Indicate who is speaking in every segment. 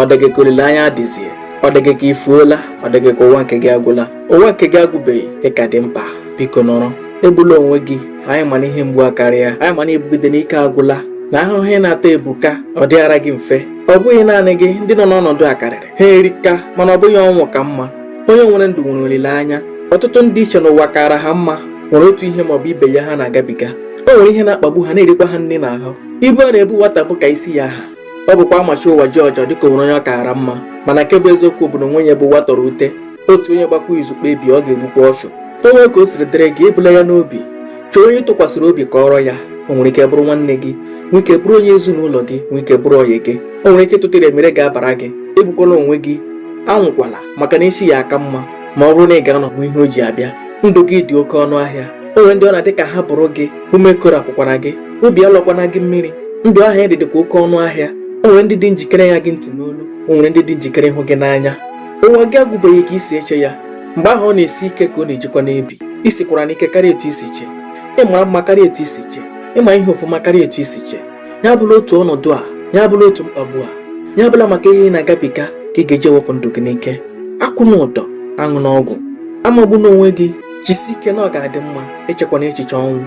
Speaker 1: ọ dị gị ka olileanya adịzie ọ dị gị ka i fuola ọ dị gị ka ụwa nke gị agwụla ụwa nke gị agwụbeghị ị ka dị mkpa biko nọrọ egbula onwe gị anyị ma na ihe mgbu akarịa anyị ma na i bugide n'ike agwụla na ahụhụ ị na-ata ebuka ọ dịghara gị mfe ọ bụghị naanị gị ndị nọ n'ọnọdụ a karịrị ha erika mana ọ bụghị ọnwụ ka mma onye nwere ndụ nwere olileanya ọtụtụ ndị i che n'ụwa kaara ha mma nwere otu ihe maọbụ ibe ya ha na-agabiga o nwere ihe na-akpagbu ha na-erikwa ha nri n'ahụ ibu a na-ebo nwata bụ ka isi ya ha ọ bụkwa a machie ụwa jiọjị ọ dịka o nwere onye ọ kaara mma mana nke bụ eziokwu bụ na o nweghị onye ụwa tọrọ ute otu onye gbakwa izu kpebie ọ ga-egbukwa ọchụ o nwee ka o siri dịrị gị ebula ya n'obi chọọ onye ị tụkwasịrị obi kọọrọ ya o nwere ike bụrụ nwanne gị nwee ike bụrụ onye ezinụlọ gị nwee ike bụrụ ọyị gị o nwere ike ịtụtara e mere ga-abara gị egbukwala onwe gị anwụkwala maka na echi ya aka mma ma ọ bụrụ na ị ga-anọ hụ ihe o ji abịa ndụ gị dị oke ọnụ ahịa o nwere ndị ọ na-adị ka ha bụrụ gị ume ekoropụkwana gị obi alọkwana gị mmiri ndụ ahụ ị dị dịkwa oke ọnụ ahịa o nwere ndị dị njikere ịṅa gị ntị n'olu o nwere ndị dị njikere ịhụ gị n'anya ụwa gị agwụbeghị ka i si eche ya mgbe ahụ ọ na-esi ike ka ọ na-ejikwanụ ebi i sikwaranụ ike karịa etu i si chee ị mara mma karịa etu i si chee ị ma ihe ọfụma karịa etu i si chee ya abụla otu ọnọdụ a ya abụla otu mkpagbu a ya abụla maka ihe ị na-agabiga ka ị ga-eji wepụ ndụ gị n'ike akwụna ụdọ aṅụna ọgwụ amagbuna onwe gị jisi ike na ọ ga-adị mma echekwana echiche ọnwụ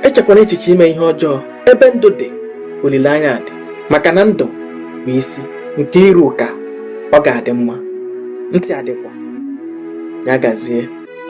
Speaker 1: echekwana echiche ime ihe ọjọọ ebe ndụ dị olileanya dị maka na ndụ bụ isi nke iru ka ọ ga-adị mma ntị adịkwa ya gazie